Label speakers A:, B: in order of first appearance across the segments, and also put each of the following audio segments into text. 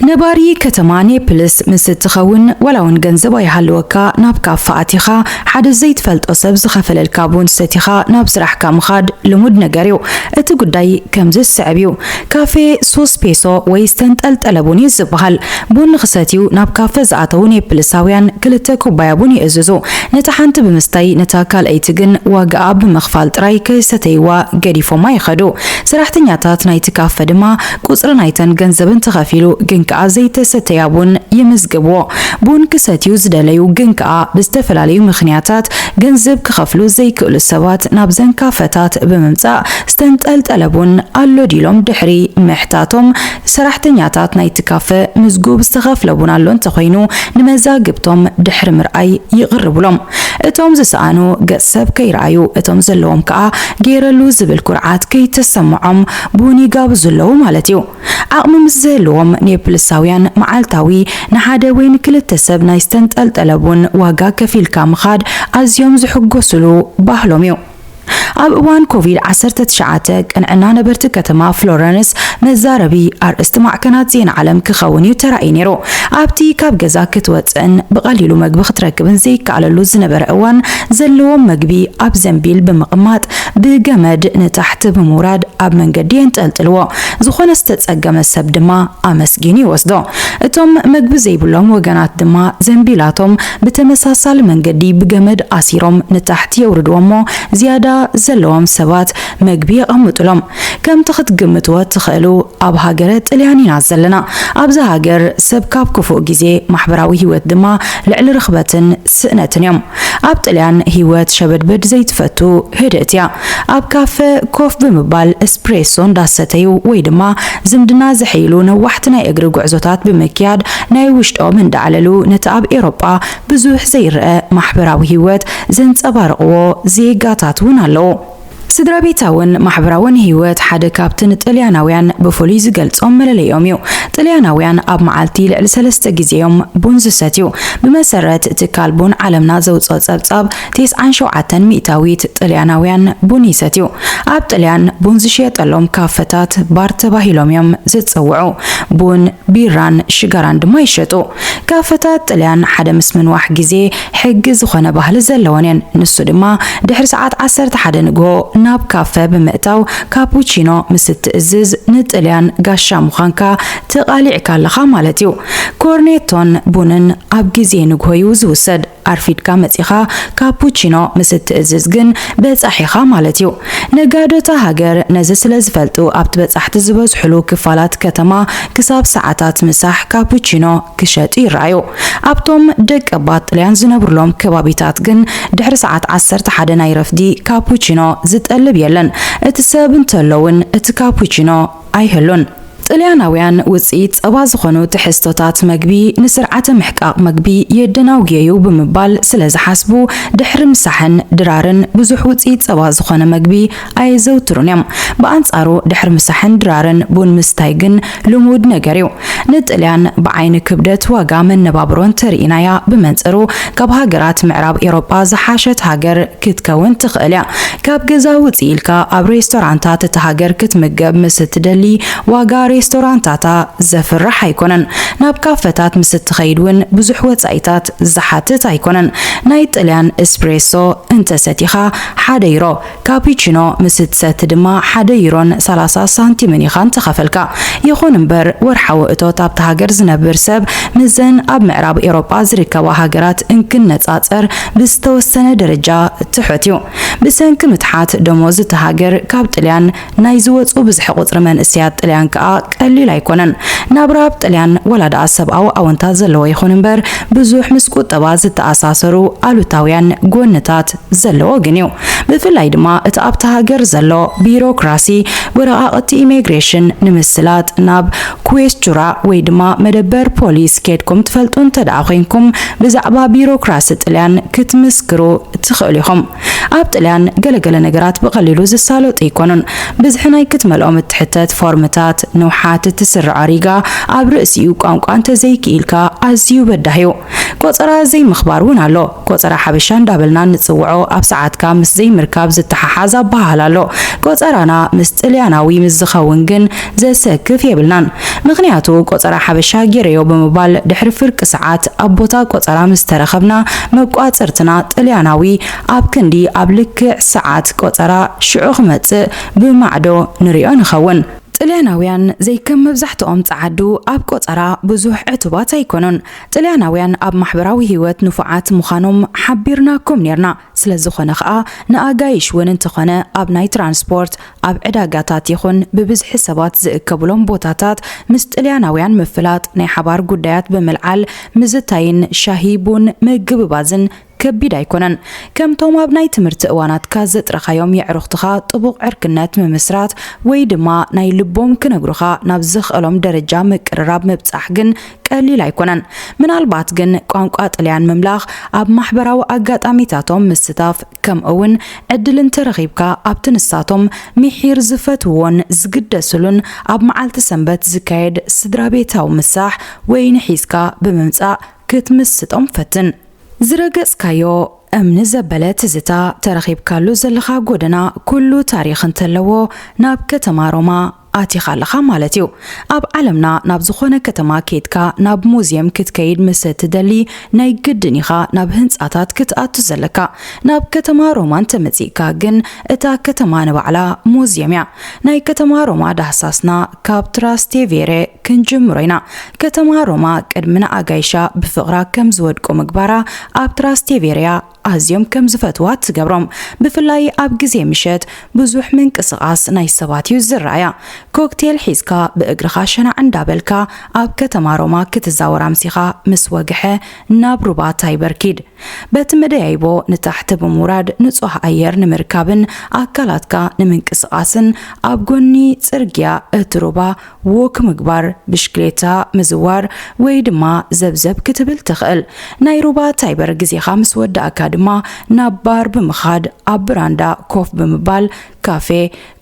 A: ነባሪ ከተማ ኔፕልስ ምስ እትኸውን ዋላ እውን ገንዘብ ኣይሃልወካ ናብ ካፈ ኣቲኻ ሓደ ዘይትፈልጦ ሰብ ዝኸፈለልካ ቡን ሰቲኻ ናብ ስራሕካ ምኻድ ልሙድ ነገር እዩ። እቲ ጉዳይ ከምዚ ዝስዕብ እዩ፣ ካፈ ሶስ ፔሶ ወይ ዝተንጠልጠለ ቡን እዩ ዝበሃል። ቡን ንኽሰትዩ ናብ ካፈ ዝኣተዉ ኔፕልሳውያን ክልተ ኩባያ ቡን ይእዝዙ። ነታ ሓንቲ ብምስታይ ነታ ካልኣይቲ ግን ዋጋኣ ብምኽፋል ጥራይ ከይሰተይዋ ገዲፎማ ይኸዱ። ሰራሕተኛታት ናይቲ ካፈ ድማ ቁጽሪ ናይተን ገንዘብን ተኸፊሉ ግን ከኣ ዘይተሰተያ ቡን ይምዝግብዎ። ቡን ክሰትዩ ዝደለዩ ግን ከኣ ብዝተፈላለዩ ምኽንያታት ገንዝብ ክኸፍሉ ዘይክእሉ ሰባት ናብዘን ካፈታት ብምምጻእ ዝተንጠልጠለ ቡን ኣሎ ድዩ ኢሎም ድሕሪ ምሕታቶም ሰራሕተኛታት ናይቲ ካፈ ምዝጉብ ዝተኸፍለ ቡን ኣሎ እንተኾይኑ ንመዛግብቶም ድሕሪ ምርኣይ ይቕርቡሎም። እቶም ዝሰኣኑ ገጽ ሰብ ከይረኣዩ እቶም ዘለዎም ከኣ ገይረሉ ዝብል ኩርዓት ከይተሰምዖም ቡን ይጋብዙ ኣለዉ ማለት እዩ። ዓቕሚ ምስ ዝህልዎም፣ ኔፕልሳውያን መዓልታዊ ንሓደ ወይ ንክልተ ሰብ ናይ ዝተንጠልጠለ ቡን ዋጋ ከፊልካ ምኻድ ኣዝዮም ዝሕጎሱሉ ባህሎም እዩ። ኣብ እዋን ኮቪድ ዓሰርተ ትሽዓተ፣ ቅንዕና ነበርቲ ከተማ ፍሎረንስ መዛረቢ ኣርእስቲ ማዕከናት ዜና ዓለም ክኸውን እዩ ተራእዩ ነይሩ። ኣብቲ ካብ ገዛ ክትወጽእን ብቐሊሉ መግቢ ክትረክብን ዘይከኣለሉ ዝነበረ እዋን፣ ዘለዎም መግቢ ኣብ ዘንቢል ብምቕማጥ ብገመድ ንታሕቲ ብምውራድ ኣብ መንገዲ የንጠልጥልዎ። ዝኾነ ዝተጸገመ ሰብ ድማ ኣመስጊኑ ይወስዶ። እቶም መግቢ ዘይብሎም ወገናት ድማ ዘንቢላቶም ብተመሳሳሊ መንገዲ ብገመድ ኣሲሮም ንታሕቲ የውርድዎ'ሞ ዝያዳ ዘለዎም ሰባት መግቢ የቐምጡሎም። ከምቲ ክትግምትዎ እትኽእሉ ኣብ ሃገረ ጥልያን ኢና ዘለና። ኣብዚ ሃገር ሰብ ካብ ክፉእ ግዜ ማሕበራዊ ህይወት ድማ ልዕሊ ርኽበትን ስእነትን እዮም። ኣብ ጥልያን ህይወት ሸበድበድ ዘይትፈቱ ህድእት እያ። ኣብ ካፈ ኮፍ ብምባል እስፕሬሶ እንዳሰተዩ ወይ ድማ ዝምድና ዘሐይሉ ነዋሕቲ ናይ እግሪ ጉዕዞታት ብምክያድ ናይ ውሽጦም እንዳዕለሉ ነቲ ኣብ ኤውሮጳ ብዙሕ ዘይረኣ ማሕበራዊ ህይወት ዘንጸባርቕዎ ዜጋታት እውን ኣለዉ። ስድራቤታውን ማሕበራውን ህይወት ሓደ ካብቲ ንጥልያናውያን ብፍሉይ ዝገልጾም መለለዮም እዩ። ጥልያናውያን ኣብ መዓልቲ ልዕሊ ሰለስተ ግዜ እዮም ቡን ዝሰትዩ። ብመሰረት ትካል ቡን ዓለምና ዘውጽኦ ጸብጻብ፣ ቴስዓን ሸውዓተን ሚእታዊት ጥልያናውያን ቡን ይሰትዩ። ኣብ ጥልያን ቡን ዝሽየጠሎም ካፈታት ባር ተባሂሎም እዮም ዝጽውዑ። ቡን፣ ቢራን ሽጋራን ድማ ይሸጡ። ካፈታት ጥልያን ሓደ ምስ ምንዋሕ ግዜ ሕጊ ዝኾነ ባህሊ ዘለወን እየን፣ ንሱ ድማ ድሕሪ ሰዓት ዓሰርተ ሓደ ንግሆ ናብ ካፈ ብምእታው ካፑቺኖ ምስ እትእዝዝ ንጥልያን ጋሻ ምዃንካ ተቓሊዕካ ኣለኻ ማለት እዩ። ኮርኔቶን ቡንን ኣብ ግዜ ንግሆ እዩ ዝውሰድ፣ ኣርፊድካ መጺኻ ካፑቺኖ ምስ እትእዝዝ ግን በጻሒ ኢኻ ማለት እዩ። ነጋዶ እታ ሃገር ነዚ ስለ ዝፈልጡ ኣብቲ በጻሕቲ ዝበዝሑሉ ክፋላት ከተማ ክሳብ ሰዓታት ምሳሕ ካፑቺኖ ክሸጡ ይረኣዩ። ኣብቶም ደቀባት ጥልያን ዝነብሩሎም ከባቢታት ግን ድሕሪ ሰዓት ዓሰርተ ሓደ ናይ ረፍዲ ካፑቺኖ ዝጠልብ የለን፣ እቲ ሰብ እንተሎ'ውን እቲ ካፑቺኖ ኣይህሉን። ጥልያናውያን ውጽኢት ጸባ ዝኾኑ ትሕዝቶታት መግቢ ንስርዓተ ምሕቃቕ መግቢ የደናጉየ'ዩ ብምባል ስለ ዝሓስቡ፣ ድሕሪ ምሳሕን ድራርን ብዙሕ ውጽኢት ጸባ ዝኾነ መግቢ ኣየዘውትሩን እዮም። ብኣንጻሩ ድሕሪ ምሳሕን ድራርን ቡን ምስታይ ግን ልሙድ ነገር እዩ። ንጥልያን ብዓይኒ ክብደት ዋጋ መነባብሮ እንተርኢናያ ብመንጽሩ ካብ ሃገራት ምዕራብ ኤውሮጳ ዝሓሸት ሃገር ክትከውን ትኽእል እያ። ካብ ገዛ ውጽእ ኢልካ ኣብ ሬስቶራንታት እታ ሃገር ክትምገብ ምስ እትደሊ ዋጋ ሬስቶራንታታ ዘፍርሕ ኣይኮነን። ናብ ካፈታት ምስ እትኸይድ እውን ብዙሕ ወጻኢታት ዝሓትት ኣይኮነን። ናይ ጥልያን እስፕሬሶ እንተሰቲኻ ሓደ ዩሮ፣ ካፒቺኖ ምስ እትሰቲ ድማ ሓደ ዩሮን ሰላሳ ሳንቲምን ኢኻ እንተኸፈልካ። ይኹን እምበር ወርሓዊ እቶት ኣብታ ሃገር ዝነብር ሰብ ምስዘን ኣብ ምዕራብ ኤውሮጳ ዝርከባ ሃገራት እንክነጻጸር ብዝተወሰነ ደረጃ ትሑት እዩ። ብሰንኪ ምትሓት ደሞዝ እታ ሃገር ካብ ጥልያን፣ ናይ ዝወጹ ብዝሒ ቁጽሪ መንእሰያት ጥልያን ከኣ ቀሊል ኣይኮነን። ናብራ ኣብ ጥልያን ዋላ ደኣ ሰብኣዊ ኣወንታ ዘለዎ ይኹን እምበር ብዙሕ ምስ ቁጠባ ዝተኣሳሰሩ ኣሉታውያን ጎንታት ዘለዎ ግን እዩ። ብፍላይ ድማ እቲ ኣብታ ሃገር ዘሎ ቢሮክራሲ ወረቓቕቲ ኢሜግሬሽን ንምስላጥ ናብ ኩዌስቹራ ወይ ድማ መደበር ፖሊስ ኬድኩም ትፈልጡ እንተደኣ ኮንኩም ብዛዕባ ቢሮክራሲ ጥልያን ክትምስክሩ ትኽእሉ ኢኹም። ኣብ ጥልያን ገለ ገለ ነገራት ብቐሊሉ ዝሳለጡ ኣይኮኑን። ብዝሒ ናይ ክትመልኦም እትሕተት ፎርምታት፣ ንውሓት እቲ ስርዐ ሪጋ፣ ኣብ ርእሲኡ ቋንቋ እንተዘይክኢልካ ኣዝዩ በዳሂ'ዩ። ቆጸራ ዘይምኽባር ውን ኣሎ። ቆጸራ ሓበሻ እንዳበልና እንጽውዖ ኣብ ሰዓትካ ምስ ዘይምርካብ ዝተሓሓዝ ኣበሃህላ ኣሎ። ቆጸራና ምስ ጥልያናዊ ምስ ዝኸውን ግን ዘሰክፍ የብልናን ምኽንያቱ ቆጸራ ሓበሻ ጌረዮ ብምባል ድሕሪ ፍርቂ ሰዓት ኣብ ቦታ ቆጸራ ምስ ተረኸብና መቋጽርትና ጥልያናዊ ኣብ ክንዲ ኣብ ልክዕ ሰዓት ቆጸራ ሽዑ ክመጽእ ብማዕዶ ንሪኦ ንኸውን። ጥልያናውያን ዘይከም መብዛሕትኦም ጸዓዱ ኣብ ቆጸራ ብዙሕ ዕቱባት ኣይኮኑን። ጥልያናውያን ኣብ ማሕበራዊ ህይወት ንፉዓት ምዃኖም ሓቢርናኩም ኔርና። ስለዝኾነ ከኣ ንኣጋይሽ እውን እንተኾነ ኣብ ናይ ትራንስፖርት፣ ኣብ ዕዳጋታት ይኹን ብብዝሒ ሰባት ዝእከቡሎም ቦታታት ምስ ጥልያናውያን ምፍላጥ፣ ናይ ሓባር ጉዳያት ብምልዓል ምዝታይን ሻሂ ቡን ምግብባዝን ከቢድ ኣይኮነን። ከምቶም ኣብ ናይ ትምህርቲ እዋናትካ ዘጥረኻዮም የዕሩኽትኻ ጥቡቕ ዕርክነት ምምስራት ወይ ድማ ናይ ልቦም ክነግሩኻ ናብ ዘኽእሎም ደረጃ ምቅርራብ ምብጻሕ ግን ቀሊል ኣይኮነን። ምናልባት ግን ቋንቋ ጥልያን ምምላኽ፣ ኣብ ማሕበራዊ ኣጋጣሚታቶም ምስታፍ፣ ከምኡ'ውን ዕድል እንተረኺብካ ኣብቲ ንሳቶም ሚሒር ዝፈትውዎን ዝግደስሉን ኣብ መዓልቲ ሰንበት ዝካየድ ስድራቤታዊ ምሳሕ ወይኒ ሒዝካ ብምምጻእ ክትምስጦም ፈትን። ዝረገጽካዮ እምኒ ዘበለ ትዝታ፣ ተረኺብካሉ ዘለኻ ጎደና ኩሉ ታሪኽ እንተለዎ ናብ ከተማ ሮማ ኣቲኻ ኣለኻ ማለት እዩ። ኣብ ዓለምና ናብ ዝኾነ ከተማ ኬድካ ናብ ሙዝየም ክትከይድ ምሰ ትደሊ ናይ ግድን ኢኻ ናብ ህንጻታት ክትኣቱ ዘለካ። ናብ ከተማ ሮማ እንተ መጺእካ ግን እታ ከተማ ንባዕላ ሙዝየም እያ። ናይ ከተማ ሮማ ዳህሳስና ካብ ትራስቴቬሬ ክንጅምሮ ኢና። ከተማ ሮማ ቅድሚ ንኣጋይሻ ብፍቕራ ከም ዝወድቁ ምግባራ ኣብ ትራስቴቬሬ እያ ኣዝዮም ከም ዝፈትዋ ትገብሮም ብፍላይ ኣብ ግዜ ምሸት ብዙሕ ምንቅስቃስ ናይ ሰባት እዩ ዝረኣያ ኮክቴል ሒዝካ ብእግርኻ ሸናዕ እንዳበልካ ኣብ ከተማ ሮማ ክትዛወር ኣምሲኻ ምስ ወግሐ ናብ ሩባ ታይበር ኪድ በቲ መደያይቦ ንታሕቲ ብምውራድ ንጹህ ኣየር ንምርካብን ኣካላትካ ንምንቅስቃስን ኣብ ጎኒ ጽርግያ እቲ ሩባ ዎክ ምግባር፣ ብሽክሌታ ምዝዋር ወይ ድማ ዘብዘብ ክትብል ትኽእል። ናይ ሩባ ታይበር ግዜኻ ምስ ወዳእካ ድማ ናብ ባር ብምኻድ ኣብ ብራንዳ ኮፍ ብምባል ካፌ፣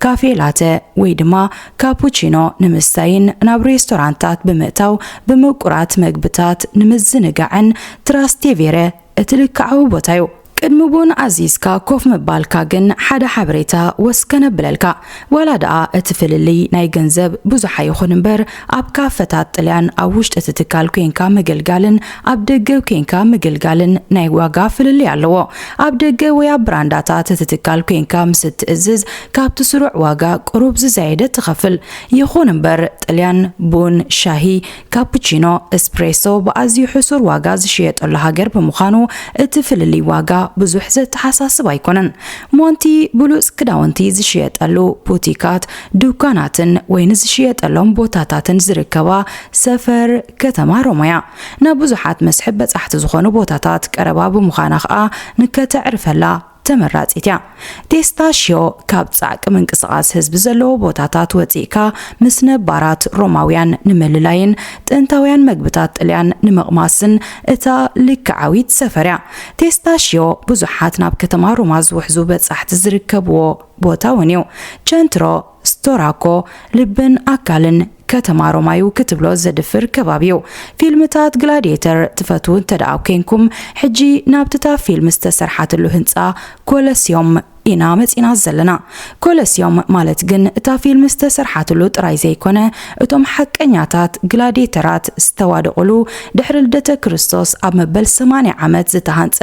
A: ካፌ ላተ ወይ ድማ ካፑቺኖ ንምስታይን ናብ ሬስቶራንታት ብምእታው ብምቁራት መግብታት ንምዝንጋዕን ትራስቴቬረ እቲ ልክዓዊ ቦታ'ዩ። ቅድሚ ቡን ኣዚዝካ ኮፍ ምባልካ ግን ሓደ ሓበሬታ ወስ ከነብለልካ፣ ዋላ ደኣ እቲ ፍልልይ ናይ ገንዘብ ብዙሕ ኣይኹን እምበር ኣብ ካፈታት ጥልያን ኣብ ውሽጢ እቲ ትካል ኴንካ ምግልጋልን ኣብ ደገ ኴንካ ምግልጋልን ናይ ዋጋ ፍልልይ ኣለዎ። ኣብ ደገ ወይ ኣብ ብራንዳታት እቲ ትካል ኴንካ ምስ እትእዝዝ ካብቲ ስሩዕ ዋጋ ቅሩብ ዝዛየደ ትኸፍል። ይኹን እምበር ጥልያን ቡን፣ ሻሂ፣ ካፑቺኖ እስፕሬሶ ብኣዝዩ ሕሱር ዋጋ ዝሽየጠሉ ሃገር ብምዃኑ እቲ ፍልልይ ዋጋ ብዙሕ ዘተሓሳስብ ኣይኮነን። ሞንቲ ብሉጽ ክዳውንቲ ዝሽየጠሉ ቡቲካት፣ ዱኳናትን ወይኒ ዝሽየጠሎም ቦታታትን ዝርከባ ሰፈር ከተማ ሮም'ያ። ናብ ብዙሓት መስሕብ በጻሕቲ ዝኾኑ ቦታታት ቀረባ ብምዃና ከኣ ንከተዕርፈላ ተመራጺት እያ። ቴስታ ሽዮ ካብ ጻዕቂ ምንቅስቓስ ህዝቢ ዘለዎ ቦታታት ወጺእካ ምስ ነባራት ሮማውያን ንምልላይን ጥንታውያን መግብታት ጥልያን ንምቕማስን እታ ልክዓዊት ሰፈር እያ። ቴስታ ሽዮ ብዙሓት ናብ ከተማ ሮማ ዝውሕዙ በጻሕቲ ዝርከብዎ ቦታ እውን እዩ። ቸንትሮ ስቶራ እኮ ልብን ኣካልን ከተማ ሮማ ዩ ክትብሎ ዘድፍር ከባቢ ዩ። ፊልምታት ግላድየተር ትፈትዉ እንተድኣ ኴንኩም ሕጂ ናብቲ እታ ፊልም ዝተሰርሓትሉ ህንጻ ኮለስዮም ኢና መጺእና ዘለና። ኮለስዮም ማለት ግን እታ ፊልም ዝተሰርሓትሉ ጥራይ ዘይኮነ እቶም ሓቀኛታት ግላድየተራት ዝተዋደቑሉ ድሕሪ ልደተ ክርስቶስ ኣብ መበል ሰማንያ ዓመት ዝተሃንጸ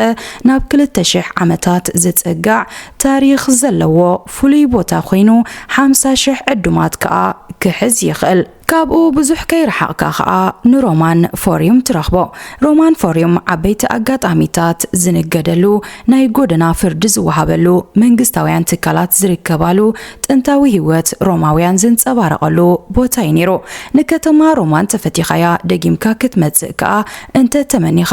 A: ናብ ክልተ ሽሕ ዓመታት ዝጽጋዕ ታሪኽ ዘለዎ ፍሉይ ቦታ ኮይኑ ሓምሳ ሽሕ ዕዱማት ከኣ ክሕዝ ይኽእል። ካብኡ ብዙሕ ከይረሓቕካ ከኣ ንሮማን ፎርዩም ትረኽቦ። ሮማን ፎርዩም ዓበይቲ ኣጋጣሚታት ዝንገደሉ፣ ናይ ጎደና ፍርዲ ዝወሃበሉ፣ መንግስታውያን ትካላት ዝርከባሉ፣ ጥንታዊ ህይወት ሮማውያን ዝንጸባረቐሉ ቦታ'ዩ ነይሩ። ንከተማ ሮማን ተፈቲኻያ ደጊምካ ክትመጽእ ከኣ እንተ ተመኒኻ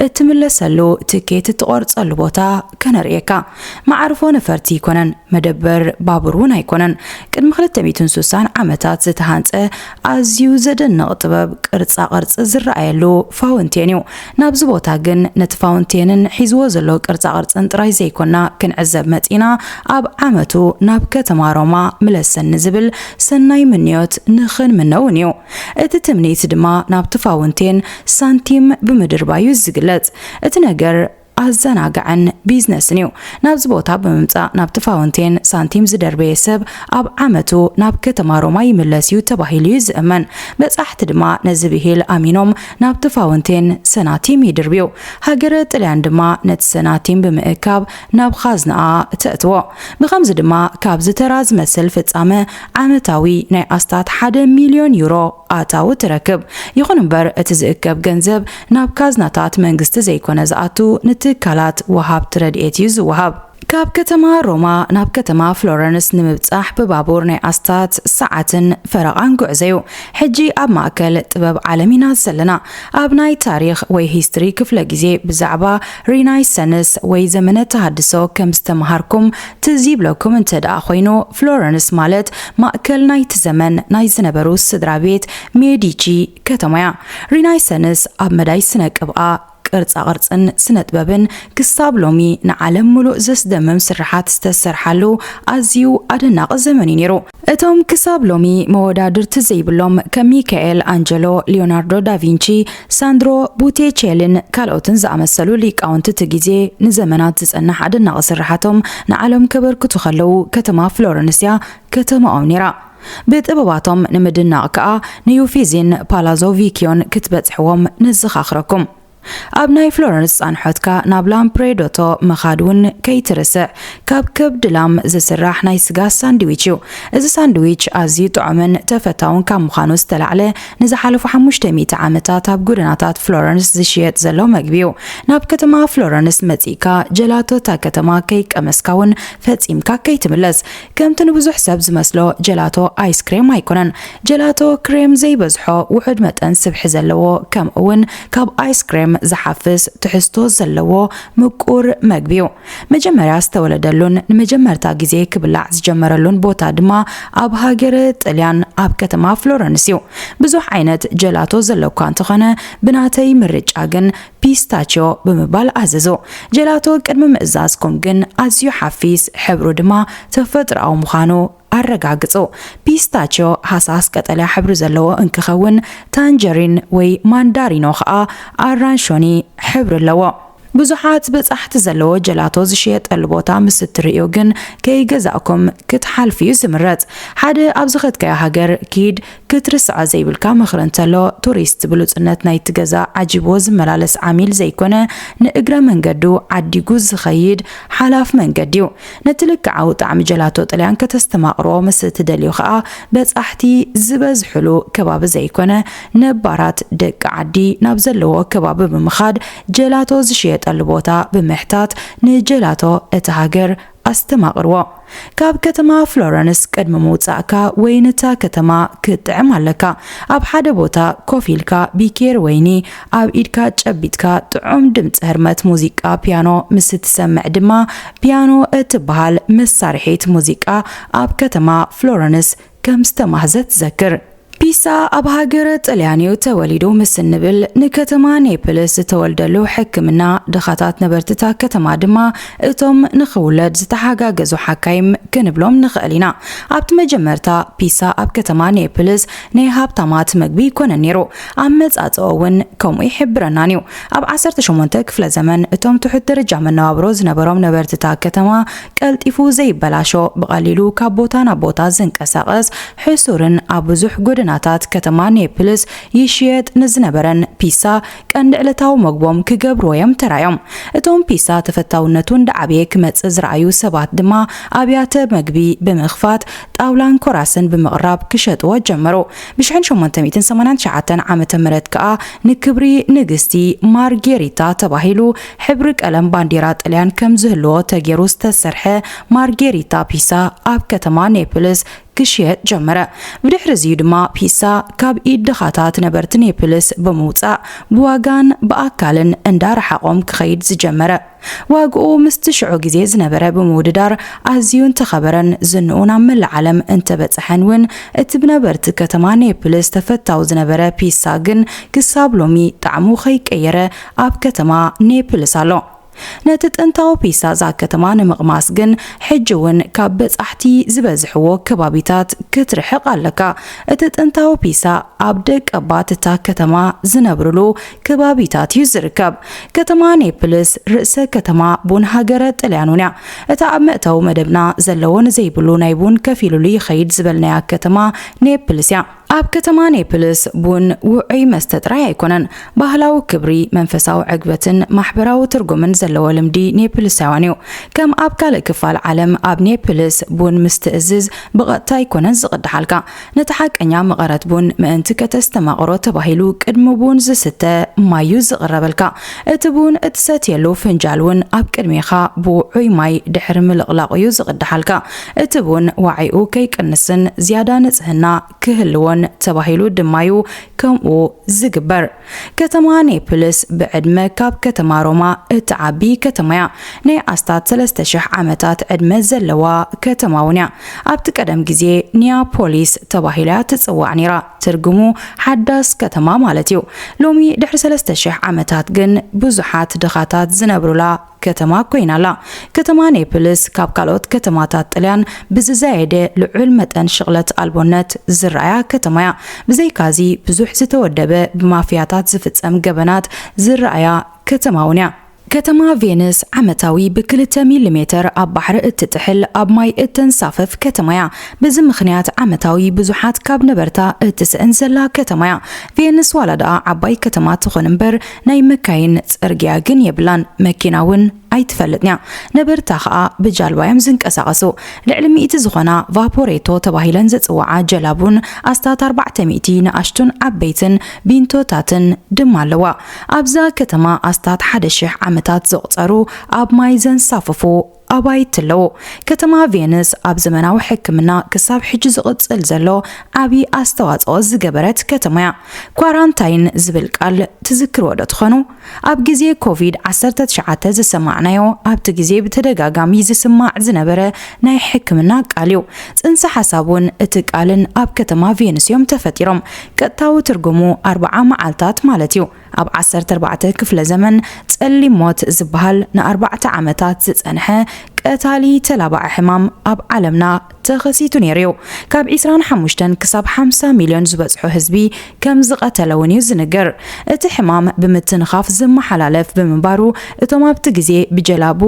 A: እትምለሰሉ ትኬት እትቖርጸሉ ቦታ ከነርእየካ። መዓርፎ ነፈርቲ ኣይኮነን፣ መደበር ባቡር እውን ኣይኮነን። ቅድሚ ክልተ ሚእትን ሱሳን ዓመታት ዝተሃንጸ ኣዝዩ ዘደንቕ ጥበብ ቅርጻ ቅርጺ ዝረኣየሉ ፋውንቴን እዩ። ናብዚ ቦታ ግን ነቲ ፋውንቴንን ሒዝዎ ዘሎ ቅርጻ ቅርጽን ጥራይ ዘይኮና ክንዕዘብ መጺእና ኣብ ዓመቱ ናብ ከተማ ሮማ ምለሰኒ ዝብል ሰናይ ምንዮት ንኽንምነ እውን እዩ። እቲ ትምኒት ድማ ናብቲ ፋውንቴን ሳንቲም ብምድርባይ እዩ ዝግለጽ። እቲ ነገር ኣዘናጋዕን ቢዝነስን እዩ። ናብዚ ቦታ ብምምጻእ ናብቲ ፋውንቴን ሳንቲም ዝደርበየ ሰብ ኣብ ዓመቱ ናብ ከተማ ሮማ ይምለስ እዩ ተባሂሉ እዩ ዝእመን። በጻሕቲ ድማ ነዚ ብሂል ኣሚኖም ናብቲ ፋውንቴን ሰናቲም ይድርብዩ። ሃገረ ጥልያን ድማ ነቲ ሰናቲም ብምእካብ ናብ ኻዝናኣ ተእትዎ። ብኸምዚ ድማ ካብዚ ተራ ዝመስል ፍጻመ ዓመታዊ ናይ ኣስታት ሓደ ሚልዮን ዩሮ ኣታዊ ትረክብ። ይኹን እምበር እቲ ዝእከብ ገንዘብ ናብ ካዝናታት መንግስቲ ዘይኮነ ዝኣቱ ንትካላት ወሃብቲ ረድኤት እዩ ዝወሃብ። ካብ ከተማ ሮማ ናብ ከተማ ፍሎረንስ ንምብጻሕ ብባቡር ናይ ኣስታት ሰዓትን ፈረቓን ጉዕዞ'ዩ። ሕጂ ኣብ ማእከል ጥበብ ዓለም ኢና ዘለና። ኣብ ናይ ታሪኽ ወይ ሂስትሪ ክፍለ ግዜ ብዛዕባ ሪናይሰንስ ወይ ዘመነ ተሃድሶ ከም ዝተመሃርኩም ትዝ ይብለኩም እንተ ደኣ ኮይኑ ፍሎረንስ ማለት ማእከል ናይቲ ዘመን ናይ ዝነበሩ ስድራ ቤት ሜዲቺ ከተማ እያ። ሪናይሰንስ ኣብ መዳይ ስነ ቅብኣ፣ ቅርጻ ቅርጽን ስነጥበብን ክሳብ ሎሚ ንዓለም ምሉእ ዘስደምም ስርሓት ዝተሰርሓሉ ኣዝዩ ኣደናቒ ዘመን እዩ ነይሩ። እቶም ክሳብ ሎሚ መወዳድርቲ ዘይብሎም ከም ሚካኤል ኣንጀሎ፣ ሊዮናርዶ ዳቪንቺ፣ ሳንድሮ ቡቴቼሊን ካልኦትን ዝኣመሰሉ ሊቃውንቲ እቲ ግዜ ንዘመናት ዝጸንሕ ኣደናቒ ስርሓቶም ንዓለም ከበርክቱ ከለዉ ከተማ ፍሎረንስ'ያ ከተማኦም ነይራ። ብጥበባቶም ንምድናቕ ከኣ ንዩፊዚን ፓላዞ ቪክዮን ክትበጽሕዎም ነዘኻኽረኩም። ኣብ ናይ ፍሎረንስ ጻንሖትካ ናብ ላምፕሬዶቶ ምኻድ እውን ከይትርስዕ፣ ካብ ከብዲ ላም ዝስራሕ ናይ ስጋ ሳንድዊች እዩ። እዚ ሳንድዊች ኣዝዩ ጥዑምን ተፈታውን ካብ ምዃኑ ዝተላዕለ ንዝሓለፉ ሓሙሽተ ሚእቲ ዓመታት ኣብ ጎደናታት ፍሎረንስ ዝሽየጥ ዘሎ መግቢ እዩ። ናብ ከተማ ፍሎረንስ መጺእካ ጀላቶ እታ ከተማ ከይቀመስካ እውን ፈጺምካ ከይትምለስ። ከምቲ ንብዙሕ ሰብ ዝመስሎ ጀላቶ ኣይስ ክሬም ኣይኮነን። ጀላቶ ክሬም ዘይበዝሖ፣ ውሑድ መጠን ስብሒ ዘለዎ ከምኡ'ውን ካብ ኣይስ ክሬም ዝሓፍስ ትሕዝቶ ዘለዎ ምቁር መግቢ'ዩ። መጀመርያ ዝተወለደሉን ንመጀመርታ ግዜ ክብላዕ ዝጀመረሉን ቦታ ድማ ኣብ ሃገረ ጥልያን ኣብ ከተማ ፍሎረንስ'ዩ። ብዙሕ ዓይነት ጀላቶ ዘሎ'ኳ እንተኾነ ብናተይ ምርጫ ግን ፒስታችዮ ብምባል ኣዘዞ። ጀላቶ ቅድሚ ምእዛዝኩም ግን ኣዝዩ ሓፊስ፣ ሕብሩ ድማ ተፈጥሮኣዊ ምዃኑ ኣረጋግጹ። ፒስታችዮ ሃሳስ ቀጠልያ ሕብሪ ዘለዎ እንክኸውን፣ ታንጀሪን ወይ ማንዳሪኖ ከኣ ኣራንሾኒ ሕብሪ ኣለዎ። ብዙሓት በጻሕቲ ዘለዎ ጀላቶ ዝሽየጠሉ ቦታ ምስ እትርእዩ ግን ከይገዛእኩም ክትሓልፉ'ዩ ዝምረጽ። ሓደ ኣብ ዝኸድካዮ ሃገር ኪድ ክትርስዓ ዘይብልካ ምኽሪ እንተሎ፣ ቱሪስት ብሉጽነት ናይቲ ገዛ ዓጂብዎ ዝመላለስ ዓሚል ዘይኮነ፣ ንእግረ መንገዱ ዓዲጉ ዝኸይድ ሓላፍ መንገዲ'ዩ። ነቲ ልክዓዊ ጣዕሚ ጀላቶ ጥልያን ከተስተማቕሮ ምስ እትደልዩ ከኣ፣ በጻሕቲ ዝበዝሕሉ ከባቢ ዘይኮነ፣ ነባራት ደቂ ዓዲ ናብ ዘለዎ ከባቢ ብምኻድ ጀላቶ ዝሽየጠሉ ቦታ ብምሕታት ንጀላቶ እታ ሃገር ኣስተማቕርዎ። ካብ ከተማ ፍሎረንስ ቅድሚ ምውጻእካ ወይኒ እታ ከተማ ክትጥዕም ኣለካ። ኣብ ሓደ ቦታ ኮፍ ኢልካ ቢኬሪ ወይኒ ኣብ ኢድካ ጨቢጥካ ጥዑም ድምጺ ህርመት ሙዚቃ ፒያኖ ምስ እትሰምዕ ድማ ፒያኖ እትበሃል መሳርሒት ሙዚቃ ኣብ ከተማ ፍሎረንስ ከም ዝተማህዘ ትዘክር። ፒሳ ኣብ ሃገረ ጥልያን'ዩ ተወሊዱ ምስ እንብል፣ ንከተማ ኔፕልስ ዝተወልደሉ ሕክምና፣ ድኻታት ነበርቲ'ታ ከተማ ድማ እቶም ንኽውለድ ዝተሓጋገዙ ሓካይም ክንብሎም ንኽእል ኢና። ኣብቲ መጀመርታ ፒሳ ኣብ ከተማ ኔፕልስ ናይ ሃብታማት መግቢ ኣይኮነን ነይሩ፣ ኣመጻጽኣኡ'ውን ከምኡ ኣይሕብረናን'ዩ። ኣብ ዓሰርተ ሸሞንተ ክፍለ ዘመን እቶም ትሑት ደረጃ መነባብሮ ዝነበሮም ነበርቲ እታ ከተማ ቀልጢፉ ዘይበላሾ፣ ብቐሊሉ ካብ ቦታ ናብ ቦታ ዝንቀሳቐስ፣ ሕሱርን ኣብ ብዙሕ ጎደናታት ከተማ ኔፕልስ ይሽየጥ ንዝነበረን ፒሳ ቀንዲ ዕለታዊ መግቦም ክገብርዎ'ዮም ተራእዮም። እቶም ፒሳ ተፈታውነቱ እንዳዓበየ ክመጽእ ዝረኣዩ ሰባት ድማ ኣብያተ መግቢ ብምኽፋት ጣውላን ኮራስን ብምቕራብ ክሸጥዎ ጀመሩ። ብ ሽሕን ሸሞንተ ሚእትን ሰማንያን ትሽዓተን ዓመተ ምህረት ከኣ ንክብሪ ንግስቲ ማርጌሪታ ተባሂሉ ሕብሪ ቀለም ባንዴራ ጥልያን ከም ዝህልዎ ተጌሩ ዝተሰርሐ ማርጌሪታ ፒሳ ኣብ ከተማ ኔፕልስ ክሽየጥ ጀመረ። ብድሕሪ እዚዩ ድማ ፒሳ ካብ ኢድ ድኻታት ነበርቲ ኔፕልስ ብምውጻእ ብዋጋን ብኣካልን እንዳ ረሓቖም ክኸይድ ዝጀመረ። ዋግኡ ምስቲ ሽዑ ግዜ ዝነበረ ብምውድዳር ኣዝዩ እንተኸበረን ዝንኡ ናብ መላእ ዓለም እንተበጸሐን እውን እቲ ብነበርቲ ከተማ ኔፕልስ ተፈታዊ ዝነበረ ፒሳ ግን ክሳብ ሎሚ ጣዕሙ ከይቀየረ ኣብ ከተማ ኔፕልስ ኣሎ። ነቲ ጥንታዊ ፒሳ እዛ ከተማ ንምቕማስ ግን ሕጂ እውን ካብ በጻሕቲ ዝበዝሕዎ ከባቢታት ክትርሕቕ ኣለካ። እቲ ጥንታዊ ፒሳ ኣብ ደቀባት እታ ከተማ ዝነብርሉ ከባቢታት እዩ ዝርከብ። ከተማ ኔፕልስ ርእሰ ከተማ ቡን ሃገረ ጥልያን እውን እያ። እታ ኣብ መእተዊ መደብና ዘለዎ ንዘይብሉ ናይ ቡን ከፊሉሉ ይኸይድ ዝበልናያ ከተማ ኔፕልስ እያ። ኣብ ከተማ ኔፕልስ ቡን ውዑይ መስተ ጥራይ ኣይኮነን፣ ባህላዊ ክብሪ፣ መንፈሳዊ ዕግበትን ማሕበራዊ ትርጉምን ዘለዎ ልምዲ ኔፕልሳውያን እዩ። ከም ኣብ ካልእ ክፋል ዓለም ኣብ ኔፕልስ ቡን ምስ ትእዝዝ ብቐጥታ ኣይኮነን ዝቕድሓልካ፣ ነቲ ሓቀኛ መቐረት ቡን ምእንቲ ከተስተማቕሮ ተባሂሉ ቅድሚ ቡን ዝስተ ማይ'ዩ ዝቕረበልካ። እቲ ቡን እትሰትየሉ ፍንጃል'ውን ኣብ ቅድሜኻ ብውዑይ ማይ ድሕሪ ምልቕላቑ'ዩ ዝቕዳሓልካ። እቲ ቡን ዋዒኡ ከይቅንስን ዝያዳ ንጽህና ክህልዎን ተባሂሉ ድማ'ዩ ከምኡ ዝግበር። ከተማ ኔፕልስ ብዕድመ ካብ ከተማ ሮማ እትዓቢ ከተማ'ያ። ናይ ኣስታት ሰለስተ ሽሕ ዓመታት ዕድመ ዘለዋ ከተማ'ውን'ያ። ኣብቲ ቀደም ግዜ ኒያ ፖሊስ ተባሂላ'ያ ትጽዋዕ ነይራ፣ ትርጉሙ ሓዳስ ከተማ ማለት'ዩ። ሎሚ ድሕሪ ሰለስተ ሽሕ ዓመታት ግን ብዙሓት ድኻታት ዝነብሩላ ከተማ ኰይና ኣላ። ከተማ ኔፕልስ ካብ ካልኦት ከተማታት ጥልያን ብዝዛየደ ልዑል መጠን ሽቕለት ኣልቦነት ዝርኣያ ከተማ እያ። ብዘይካዚ ብዙሕ ዝተወደበ ብማፍያታት ዝፍጸም ገበናት ዝርኣያ ከተማ እውን እያ። ከተማ ቬንስ ዓመታዊ ብክልተ ሚሊሜተር ኣብ ባሕሪ እትጥሕል ኣብ ማይ እተንሳፍፍ ከተማ እያ። በዚ ምኽንያት ዓመታዊ ብዙሓት ካብ ነበርታ እትስእን ዘላ ከተማ እያ። ቬንስ ዋላ ደኣ ዓባይ ከተማ ትኹን እምበር፣ ናይ መካይን ጽርግያ ግን የብላን መኪና ውን ኣይትፈልጥንያ ነበርታ ከኣ ብጃልባዮም ዝንቀሳቀሱ ልዕሊ ሚእቲ ዝኮና ቫፖሬቶ ተባሂለን ዝጽውዓ ጀላቡን ኣስታት ኣርባዕተ ሚእቲ ንኣሽቱን ዓበይትን ቢንቶታትን ድማ ኣለዋ ኣብዛ ከተማ ኣስታት ሓደ ሽሕ ዓመታት ዘቁጸሩ ኣብ ማይ ዘንሳፍፉ ኣባይቲ ኣለዎ። ከተማ ቬንስ ኣብ ዘመናዊ ሕክምና ክሳብ ሕጂ ዝቕጽል ዘሎ ዓቢ ኣስተዋጽኦ ዝገበረት ከተማ'ያ። ኳራንታይን ዝብል ቃል ትዝክርዎ'ዶ ትኾኑ? ኣብ ግዜ ኮቪድ ዓሰርተ ትሽዓተ ዝሰማዕናዮ ኣብቲ ግዜ ብተደጋጋሚ ዝስማዕ ዝነበረ ናይ ሕክምና ቃል'ዩ። ጽንሰ ሓሳቡን እቲ ቃልን ኣብ ከተማ ቬንስ'ዮም ተፈጢሮም። ቀጥታዊ ትርጉሙ ኣርብዓ መዓልታት ማለት'ዩ። ኣብ ዓሰርተ ኣርባዕተ ክፍለ ዘመን ጸሊም ሞት ዝበሃል ንኣርባዕተ ዓመታት ዝጸንሐ ቀታሊ ተላባዒ ሕማም ኣብ ዓለምና ተኸሲቱ ነይሩ'ዩ። ካብ ዕስራን ሓሙሽተን ክሳብ ሓምሳ ሚልዮን ዝበጽሑ ህዝቢ ከም ዝቐተለ'ውን'ዩ ዝንገር። እቲ ሕማም ብምትንኻፍ ዝመሓላለፍ ብምንባሩ እቶም ኣብቲ ግዜ ብጀላቡ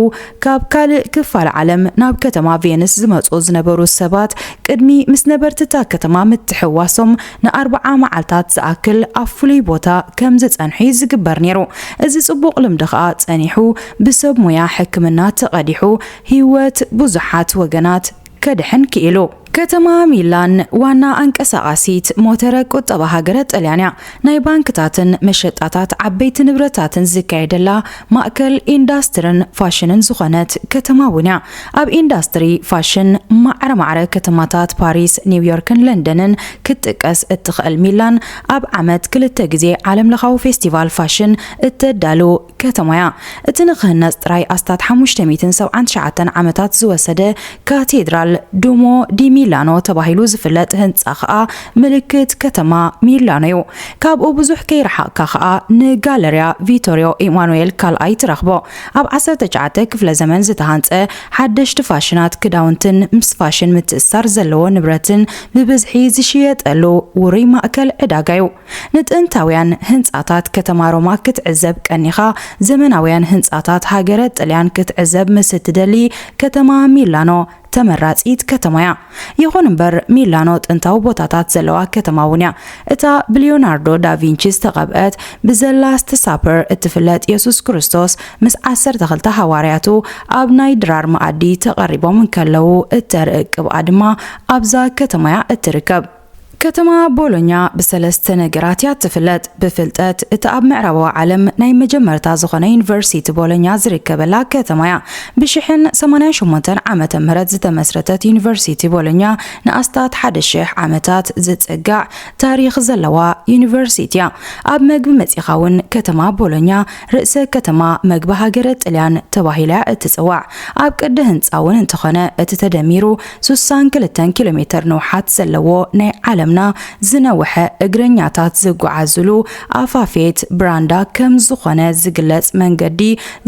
A: ካብ ካልእ ክፋል ዓለም ናብ ከተማ ቬንስ ዝመጽኡ ዝነበሩ ሰባት ቅድሚ ምስ ነበርቲ'ታ ከተማ ምትሕውዋሶም ንኣርብዓ መዓልታት ዝኣክል ኣብ ፍሉይ ቦታ ከም ዝጸንሑ'ዩ ዝግበር ነይሩ። እዚ ጽቡቕ ልምዲ ከኣ ጸኒሑ ብሰብ ሞያ ሕክምና ተቐዲሑ ህይወት ብዙሓት ወገናት ከድሕን ክኢሉ። ከተማ ሚላን ዋና ኣንቀሳቓሲት ሞተረ ቁጠባ ሃገረ ጥልያን'ያ። ናይ ባንክታትን መሸጣታት ዓበይቲ ንብረታትን ዝካየደላ ማእከል ኢንዳስትርን ፋሽንን ዝኾነት ከተማ እውን እያ። ኣብ ኢንዳስትሪ ፋሽን ማዕረ ማዕረ ከተማታት ፓሪስ፣ ኒውዮርክን ለንደንን ክትጥቀስ እትኽእል ሚላን ኣብ ዓመት ክልተ ግዜ ዓለምለኻዊ ፌስቲቫል ፋሽን እተዳሉ ከተማ እያ። እቲ ንኽህነጽ ጥራይ ኣስታት ሓሙሽተ ሚእትን ሰብዓን ትሽዓተን ዓመታት ዝወሰደ ካቴድራል ዱሞ ዲ ሚላኖ ተባሂሉ ዝፍለጥ ህንጻ ከኣ ምልክት ከተማ ሚላኖ'ዩ። ካብኡ ብዙሕ ከይረሓቕካ ከኣ ንጋለርያ ቪቶርዮ ኢማኑኤል ካልኣይ ትረኽቦ። ኣብ ዓሰርተ ትሽዓተ ክፍለ ዘመን ዝተሃንጸ፣ ሓደሽቲ ፋሽናት ክዳውንትን ምስ ፋሽን ምትእስሳር ዘለዎ ንብረትን ብብዝሒ ዝሽየጠሉ ውሩይ ማእከል ዕዳጋ'ዩ። ንጥንታውያን ህንጻታት ከተማ ሮማ ክትዕዘብ ቀኒኻ፣ ዘመናውያን ህንጻታት ሃገረ ጥልያን ክትዕዘብ ምስ እትደሊ፣ ከተማ ሚላኖ ተመራጺት ከተማ'ያ። ይኹን እምበር ሚላኖ ጥንታዊ ቦታታት ዘለዋ ከተማ'ውን'ያ። እታ ብሊዮናርዶ ዳቪንቺ ዝተቐብአት ብዘ ላስት ሳፐር እትፍለጥ የሱስ ክርስቶስ ምስ ዓሰርተ ክልተ ሃዋርያቱ ኣብ ናይ ድራር መኣዲ ተቐሪቦም እንከለዉ እተርኢ ቅብኣ ድማ ኣብዛ ከተማ'ያ እትርከብ። ከተማ ቦሎኛ ብሰለስተ ነገራት እያ እትፍለጥ፣ ብፍልጠት፣ እቲ ኣብ ምዕራባዊ ዓለም ናይ መጀመርታ ዝኾነ ዩኒቨርሲቲ ቦሎኛ ዝርከበላ ከተማ እያ። ብሽሕን ሰማንያን ሸሞንተን ዓመተ ምህረት ዝተመስረተት ዩኒቨርሲቲ ቦሎኛ ንኣስታት ሓደ ሽሕ ዓመታት ዝጽጋዕ ታሪኽ ዘለዋ ዩኒቨርሲቲ እያ። ኣብ መግቢ መጺኻ እውን ከተማ ቦሎኛ ርእሰ ከተማ መግቢ ሃገረ ጥልያን ተባሂላ እያ እትጽዋዕ። ኣብ ቅዲ ህንጻ እውን እንተኾነ እቲ ተደሚሩ ሱሳን ክልተን ኪሎ ሜተር ንውሓት ዘለዎ ናይ ዓለምና ዝነውሐ እግረኛታት ዝጓዓዙሉ ኣፋፌት ብራንዳ ከም ዝኾነ ዝግለጽ መንገዲ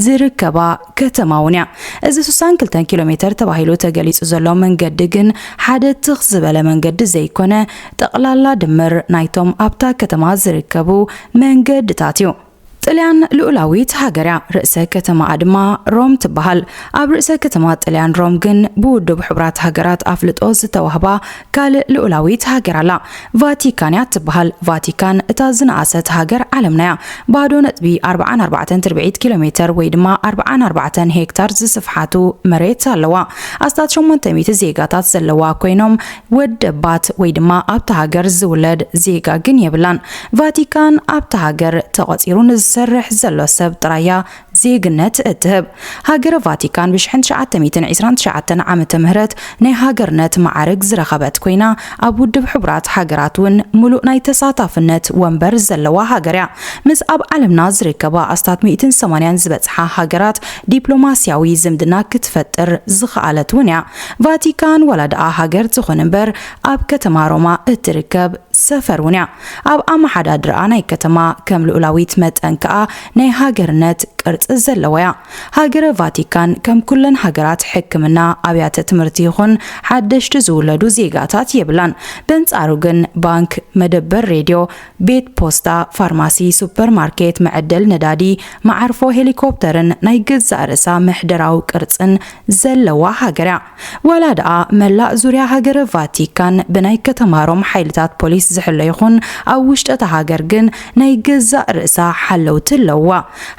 A: ዝርከባ ከተማ እውን እያ። እዚ ሱሳን ክልተን ኪሎ ሜተር ተባሂሉ ተገሊጹ ዘሎ መንገዲ ግን ሓደ ትኽ ዝበለ መንገዲ ዘይኮነ ጠቕላላ ድምር ናይቶም ኣብታ ከተማ ዝርከቡ መንገድታት እዩ። ጥልያን ልኡላዊት ሃገር እያ፣ ርእሰ ከተማኣ ድማ ሮም ትበሃል። ኣብ ርእሰ ከተማ ጥልያን ሮም ግን ብውድብ ሕቡራት ሃገራት ኣፍልጦ ዝተዋህባ ካልእ ልኡላዊት ሃገር ኣላ። ቫቲካን እያ እትበሃል። ቫቲካን እታ ዝነኣሰት ሃገር ዓለምና እያ። ባዶ ነጥቢ ኣርብዓን ኣርባዕተን ትርብዒት ኪሎሜተር ወይ ድማ ኣርብዓን ኣርባዕተን ሄክታር ዝስፍሓቱ መሬት ኣለዋ። ኣስታት ሸሞንተ ሚእቲ ዜጋታት ዘለዋ ኮይኖም ወደባት ወይ ድማ ኣብታ ሃገር ዝውለድ ዜጋ ግን የብላን። ቫቲካን ኣብታ ሃገር ተቐጺሩ ንዝሰርሕ ዘሎ ሰብ ጥራያ ዜግነት እትህብ። ሃገረ ቫቲካን ብሽሕን ትሽዓተ ሚእትን ዒስራን ትሽዓተን ዓመተ ምህረት ናይ ሃገርነት መዓርግ ዝረኸበት ኮይና ኣብ ውድብ ሕቡራት ሃገራት እውን ምሉእ ናይ ተሳታፍነት ወንበር ዘለዋ ሃገር እያ። ምስ ኣብ ዓለምና ዝርከባ ኣስታት ሚእትን ሰማንያን ዝበጽሓ ሃገራት ዲፕሎማስያዊ ዝምድና ክትፈጥር ዝኸኣለት እውን እያ። ቫቲካን ዋላ ደኣ ሃገር ትኹን እምበር ኣብ ከተማ ሮማ እትርከብ ሰፈር እውን እያ። ኣብ ኣመሓዳድርኣ ናይ ከተማ ከም ልኡላዊት መጠን ከኣ ናይ ሃገርነት ቅርጺ ዘለዋ እያ። ሃገረ ቫቲካን ከም ኩለን ሃገራት ሕክምና፣ ኣብያተ ትምህርቲ ይኹን ሓደሽቲ ዝውለዱ ዜጋታት የብላን። በንጻሩ ግን ባንክ፣ መደበር ሬድዮ፣ ቤት ፖስታ፣ ፋርማሲ፣ ሱፐር ማርኬት፣ መዐደል ነዳዲ፣ መዓርፎ ሄሊኮፕተርን ናይ ገዛእ ርእሳ ምሕደራዊ ቅርጽን ዘለዋ ሃገር'ያ። ዋላ ደኣ መላእ ዙርያ ሃገረ ቫቲካን ብናይ ከተማ ሮም ሓይልታት ፖሊስ ዝሕሎ ይኹን፣ ኣብ ውሽጢ'ታ ሃገር ግን ናይ ገዛእ ርእሳ ሓለውቲ ኣለውዋ።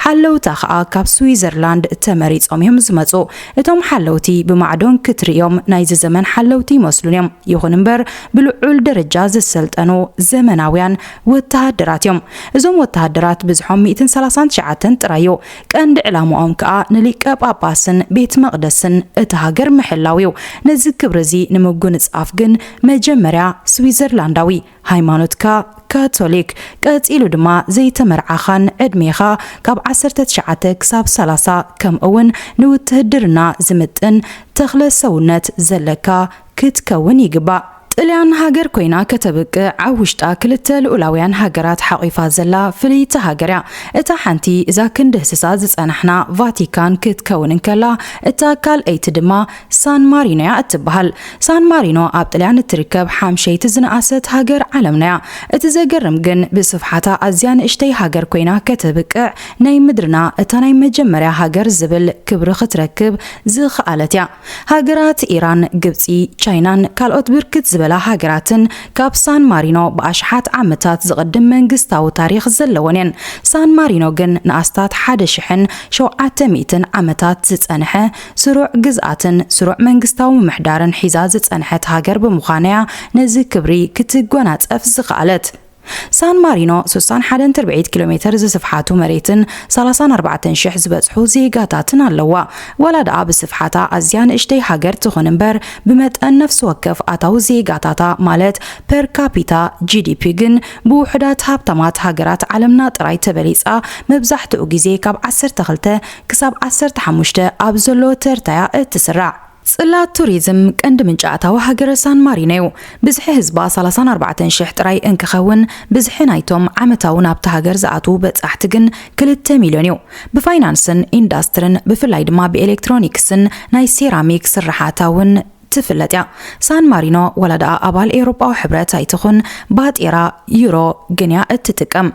A: ሓለውታ ከኣ ካብ ስዊዘርላንድ ተመሪጾም'ዮም ዝመጹ። እቶም ሓለውቲ ብማዕዶን ክትርእዮም ናይዚ ዘመን ሓለውቲ ይመስሉን'ዮም። ይኹን'ምበር፣ ብልዑል ደረጃ ዝሰልጠኑ ዘመናውያን ወተሃደራት እዮም። እዞም ወተሃደራት ብዝሖም ሚእትን ሰላሳን ትሽዓተን ጥራይ እዩ። ቀንዲ ዕላማኦም ከኣ ንሊቀ ጳጳስን ቤት መቕደስን እታ ሃገር ምሕላው እዩ። ነዚ ክብሪ እዚ ንምጉንጻፍ ግን መጀመርያ ስዊዘርላንዳዊ፣ ሃይማኖትካ ካቶሊክ፣ ቀጺሉ ድማ ዘይተመርዓኻን ዕድሜኻ ካብ ዓሰርተ ትሽዓተ ክሳብ ሰላሳ ከምኡውን ንውትህድርና ዝምጥን ተኽለ ሰውነት ዘለካ ክትከውን ይግባእ። ጥልያን ሃገር ኮይና ከተብቅዕ ኣብ ውሽጣ ክልተ ልኡላውያን ሃገራት ሓቒፋ ዘላ ፍልይቲ ሃገር እያ። እታ ሓንቲ እዛ ክንድህስሳ ዝጸናሕና ቫቲካን ክትከውን እንከላ፣ እታ ካልኣይቲ ድማ ሳን ማሪኖ እያ እትበሃል። ሳን ማሪኖ ኣብ ጥልያን እትርከብ ሓምሸይቲ ዝነኣሰት ሃገር ዓለምና እያ። እቲ ዘገርም ግን ብስፍሓታ ኣዝያ ንእሽተይ ሃገር ኮይና ከተብቅዕ ናይ ምድርና እታ ናይ መጀመርያ ሃገር ዝብል ክብሪ ክትረክብ ዝኸኣለት እያ። ሃገራት ኢራን፣ ግብጺ፣ ቻይናን ካልኦት ብርክት ዝበላ ሃገራትን ካብ ሳን ማሪኖ ብኣሽሓት ዓመታት ዝቕድም መንግስታዊ ታሪኽ ዘለወን እየን። ሳን ማሪኖ ግን ንኣስታት ሓደ ሽሕን ሸውዓተ ሚእትን ዓመታት ዝጸንሐ ስሩዕ ግዝኣትን ስሩዕ መንግስታዊ ምምሕዳርን ሒዛ ዝጸንሐት ሃገር ብምዃና'ያ ነዚ ክብሪ ክትጎናጸፍ ዝኸኣለት። ሳን ማሪኖ ስሳን ሓደን ትርብዒት ኪሎ ሜተር ዝስፍሓቱ መሬትን ሰላሳን ኣርባዕተን ሽሕ ዝበጽሑ ዜጋታትን ኣለዋ። ዋላ ደኣ ብስፍሓታ ኣዝያ ንእሽተይ ሃገር ትኹን እምበር፣ ብመጠን ነፍሲ ወከፍ ኣታዊ ዜጋታታ ማለት ፐር ካፒታ፣ GDP፣ ግን ብውሑዳት ሃብታማት ሃገራት ዓለምና ጥራይ ተበሊጻ መብዛሕትኡ ግዜ ካብ ዓሰርተ ክልተ ክሳብ ዓሰርተ ሓሙሽተ ኣብ ዘሎ ተርታ'ያ እትስራዕ። ጽላት ቱሪዝም ቀንዲ ምንጪ ኣታዊ ሃገረ ሳን ማሪኖ'ዩ። ብዝሒ ህዝባ ሳላሳን ኣርባዕተን ሽሕ ጥራይ እንክኸውን፣ ብዝሒ ናይቶም ዓመታዊ ናብታ ሃገር ዝኣትዉ በጻሕቲ ግን ክልተ ሚልዮን'ዩ። ብፋይናንስን ኢንዳስትርን ብፍላይ ድማ ብኤሌክትሮኒክስን ናይ ሴራሚክ ስርሓታ'ውን ትፍለጥ'ያ። ሳን ማሪኖ ዋላ ደኣ ኣባል ኤውሮጳዊ ሕብረት ኣይትኹን፣ ባጤራ ዩሮ ግን'ያ እትጥቀም።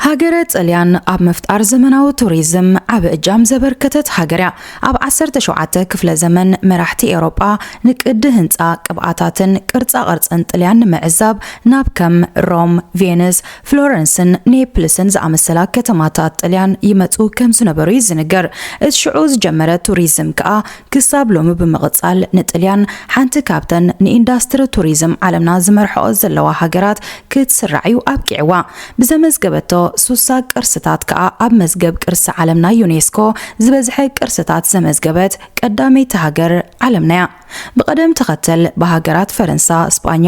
A: ሃገረ ጥልያን ኣብ ምፍጣር ዘመናዊ ቱሪዝም ዓቢ እጃም ዘበርከተት ሃገር እያ። ኣብ ዓሰርተ ሸውዓተ ክፍለ ዘመን መራሕቲ ኤውሮጳ ንቅዲ ህንጻ፣ ቅብኣታትን ቅርጻ ቅርጽን ጥልያን ንምዕዛብ ናብ ከም ሮም፣ ቬንስ፣ ፍሎረንስን ኔፕልስን ዝኣመሰላ ከተማታት ጥልያን ይመጹ ከም ዝነበሩ እዩ ዝንገር። እቲ ሽዑ ዝጀመረ ቱሪዝም ከኣ ክሳብ ሎሚ ብምቕጻል ንጥልያን ሓንቲ ካብተን ንኢንዳስትሪ ቱሪዝም ዓለምና ዝመርሕኦ ዘለዋ ሃገራት ክትስራዕ እዩ ኣብቂዕዋ። ብዘመዝገበቶ ሱሳ ቅርስታት ከኣ ኣብ መዝገብ ቅርሲ ዓለም ናይ ዩኔስኮ ዝበዝሐ ቅርስታት ዘመዝገበት ቀዳመይቲ ሃገር ዓለምና'ያ። ብቐደም ተኸተል ብሃገራት ፈረንሳ፣ ስጳኛ፣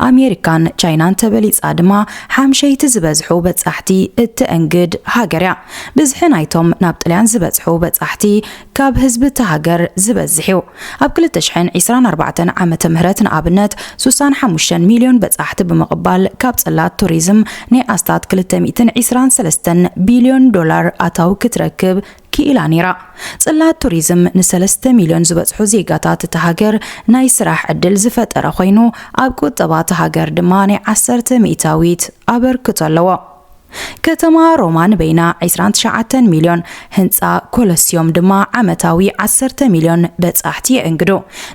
A: ኣሜሪካን ቻይናን ተበሊጻ ድማ ሓምሸይቲ ዝበዝሑ በጻሕቲ እተእንግድ ሃገር'ያ። ብዝሒ ናይቶም ናብ ጥልያን ዝበጽሑ በጻሕቲ ካብ ህዝቢ እታ ሃገር ዝበዝሕ እዩ። ኣብ ክልተ ሽሕን ዒስራን ኣርባዕተን ዓመተ ምህረት ንኣብነት ሱሳን ሓሙሽተን ሚልዮን በጻሕቲ ብምቕባል ካብ ጽላት ቱሪዝም ናይ ኣስታት ክልተ ሚእትን ዒስራን ሰለስተን ቢልዮን ዶላር ኣታዊ ክትረክብ ክኢላ ነይራ። ጽላት ቱሪዝም ንሰለስተ ሚልዮን ዝበጽሑ ዜጋታት እታ ሃገር ናይ ስራሕ ዕድል ዝፈጠረ ኮይኑ ኣብ ቁጠባ እታ ሃገር ድማ ናይ ዓሰርተ ሚእታዊት ኣበርክቶ ኣለዎ። ከተማ ሮማ ንበይና ዕስራን ትሽዓተን ሚልዮን፣ ህንጻ ኮለስዮም ድማ ዓመታዊ ዓሰርተ ሚልዮን በጻሕቲ የእንግዱ።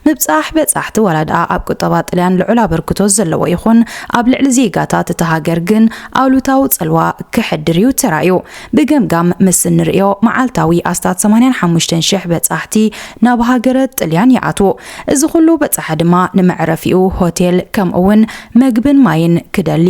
A: ምብጻሕ በጻሕቲ ዋላ ድኣ ኣብ ቁጠባ ጥልያን ልዑል ኣበርክቶ ዘለዎ ይኹን፣ ኣብ ልዕሊ ዜጋታት እታ ሃገር ግን ኣሉታዊ ጽልዋ ከሕድር'ዩ ተራእዩ። ብገምጋም ምስ እንርእዮ፣ መዓልታዊ ኣስታት ሰማንያን ሓሙሽተን ሽሕ በጻሕቲ ናብ ሃገረ ጥልያን ይኣትዉ። እዚ ኹሉ በጻሒ ድማ ንመዕረፊኡ ሆቴል ከምኡ'ውን መግብን ማይን ክደሊ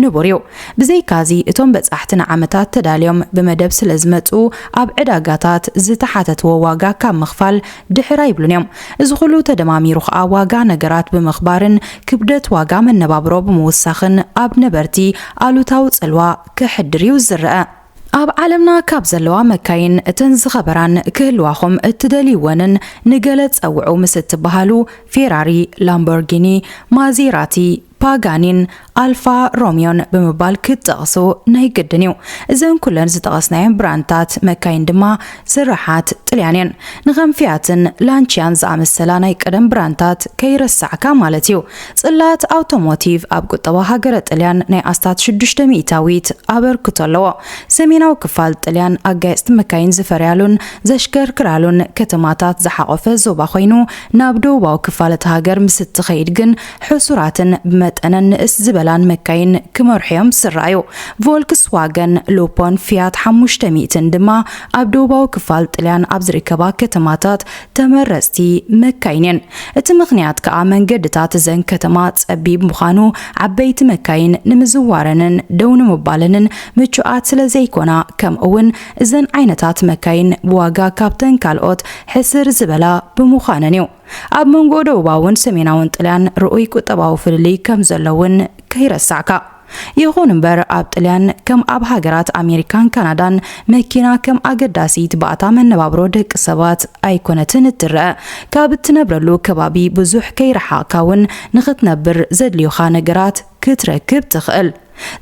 A: ንቡር እዩ። ብዘይካዚ እቶም በጻሕቲ ንዓመታት ተዳልዮም ብመደብ ስለዝመጽኡ ኣብ ዕዳጋታት ዝተሓተትዎ ዋጋ ካብ ምኽፋል ድሕር ኣይብሉን እዮም። እዚ ኹሉ ተደማሚሩ ኸኣ ዋጋ ነገራት ብምኽባርን ክብደት ዋጋ መነባብሮ ብምውሳኽን ኣብ ነበርቲ ኣሉታዊ ጽልዋ ከሕድር እዩ ዝረኣ። ኣብ ዓለምና ካብ ዘለዋ መካይን እተን ዝኸበራን ክህልዋኹም እትደልይወንን ንገለ ጸውዑ ምስ እትበሃሉ ፌራሪ፣ ላምቦርጊኒ፣ ማዜራቲ፣ ፓጋኒን ኣልፋ ሮሚዮን ብምባል ክትጠቕሱ ናይ ግድን እዩ። እዘን ኩለን ዝጠቐስናየን ብራንድታት መካይን ድማ ስርሓት ጥልያን እየን። ንከም ፊያትን ላንቺያን ዝኣመሰላ ናይ ቀደም ብራንድታት ከይረሳዕካ ማለት እዩ። ጽላት ኣውቶሞቲቭ ኣብ ቁጠባ ሃገረ ጥልያን ናይ ኣስታት ሽዱሽተ ሚእታዊት ኣበርክቶ ኣለዎ። ሰሜናዊ ክፋል ጥልያን ኣጋየጽቲ መካይን ዝፈርያሉን ዘሽከርክራሉን ከተማታት ዝሓቖፈ ዞባ ኮይኑ፣ ናብ ደቡባዊ ክፋል እታ ሃገር ምስ እትኸይድ ግን ሕሱራትን ብመጠነን ንእስ ዝበላን መካይን ክመርሑ'ዮም ዝስረኣዩ። ቮልክስዋገን፣ ሉፖን ፊያት ሓሙሽተ ሚእትን ድማ ኣብ ደቡባዊ ክፋል ጥልያን ኣብ ዝርከባ ከተማታት ተመረጽቲ መካይን'የን። እቲ ምኽንያት ከኣ መንገድታት እዘን ከተማ ጸቢብ ምዃኑ ዓበይቲ መካይን ንምዝዋረንን ደው ንምባለንን ምቹኣት ስለዘይኮና ከምኡ'ውን እዘን ዓይነታት መካይን ብዋጋ ካብተን ካልኦት ሕስር ዝበላ ብምዃነን'ዩ። ኣብ መንጎ ደቡባውን ሰሜናውን ጥልያን ርኡይ ቁጠባዊ ፍልልይ ከም ዘሎ እውን ከይረሳዕካ። ይኹን እምበር ኣብ ጥልያን ከም ኣብ ሃገራት ኣሜሪካን ካናዳን መኪና ከም ኣገዳሲት ባእታ መነባብሮ ደቂ ሰባት ኣይኮነትን እትረአ። ካብ እትነብረሉ ከባቢ ብዙሕ ከይረሓቕካ እውን ንኽትነብር ዘድልዩኻ ነገራት ክትረክብ ትኽእል።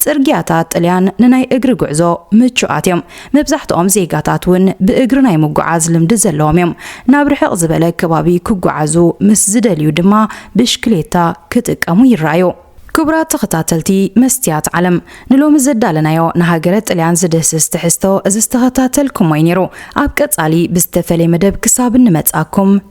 A: ጽርግያታት ጥልያን ንናይ እግሪ ጉዕዞ ምቹኣት እዮም፣ መብዛሕትኦም ዜጋታት እውን ብእግሪ ናይ ምጕዓዝ ልምዲ ዘለዎም እዮም። ናብ ርሕቕ ዝበለ ከባቢ ክጕዓዙ ምስ ዝደልዩ ድማ ብሽክሌታ ክጥቀሙ ይረኣዩ። ክቡራት ተኸታተልቲ መስትያት ዓለም፣ ንሎሚ ዘዳለናዮ ንሃገረ ጥልያን ዝድህስስ ትሕዝቶ እዚ ዝተኸታተልኩሞ እዩ ነይሩ። ኣብ ቀጻሊ ብዝተፈልየ መደብ ክሳብ እንመጽኣኩም፣